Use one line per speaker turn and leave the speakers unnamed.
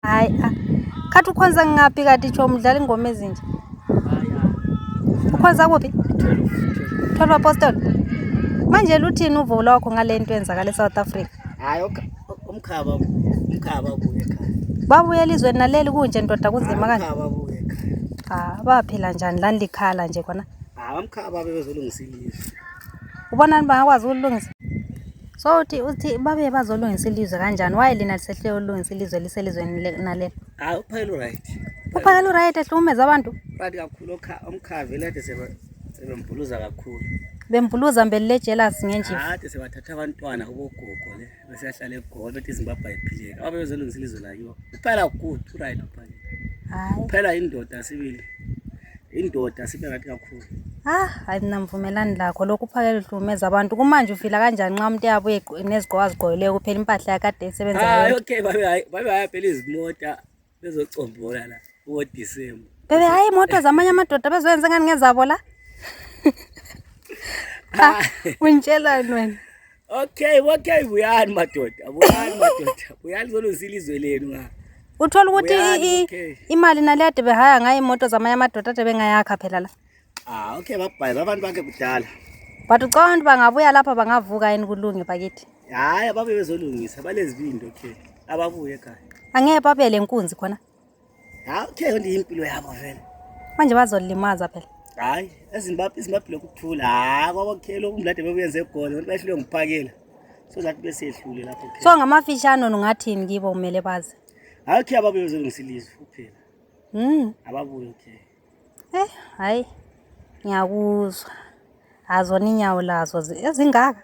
hayi ah. khathi ukhonza ngaphi kati tsho mdlala ingoma ezinje ukhonza kuphi thwelwa apostol manje luthini uvo lwakho ngale nto enzakala esouth africa hayi umkhaba
umkhaba kuye khaya babuye elizweni
naleli kunje ndoda kunzima kanje
ah, baphila njani lani
likhala nje khona abamkhaba
bebezolungisa ilizwe ubonani
bangakwazi ukulungisa So uthi uthi babe bazolungisa ilizwe kanjani? Why lina lisehle ulungisa ilizwe liselizweni le- naleli? Hayi uphayela
uright. Uphakela uright
ehlukumeza abantu. Right kakhulu okha
omkhavi lade sebe sebembhuluza kakhulu. Bembhuluza mbeli
le jealous ngenjiva. Kade sebathatha abantwana
kubogogo le bese yahlala egolo bethi iZimbabwe ayiphileki. Ababe bezolungisa ilizwe layo. Uphayela good uright uphayela. Hayi. Uphayela
indoda
sibili. indoda sibe kathi kakhulu ah hayi mina
ngivumelani lakho lokhu uphakele uhlukumeza abantu kumanje ufila kanjani nxa umuntu eyabuye nezigqoko azigqokileyo kuphela impahla yakade esebenza hayi okay babe hayi babe
hayi phela izimota bezocombola la kuwo December bebe hayi imoto
zamanye amadoda bezoyenza ngani ngezabo la ah, untshelani wena Okay,
okay, buyani madoda. Buyani madoda. Buyani zoluzila izwe lenu nga. Uthola ukuthi Buyani,
i- i- okay. imali nale ade behaya ngayo imoto zamanye amadoda ade bengayakha phela la. Ah, okay, babhayiza
abantu bakhe kudala. But ucabanga
ukuthi bangabuya lapha bangavuka yini kulunge bakithi. Hayi, ababe
bezolungisa, balezibindi okay. Ababuye ekhaya. Angeke babele
nkunzi khona. okay
yonto impilo yabo vele manje bazolimaza
phela hayi ezimbabwe
izimbabwe lokuthula hayi kwabakhela umlade bebuyenze egolo abantu bayehlulwe nguphakela so that besehlule lapho so ngamafishane
ungathini kibo kumele bazi hayi okay ababuye
bezolungisa ilizwe kuphela mm ababuye okay
eh hayi ngiyakuzwa azona inyawo lazo ezingaka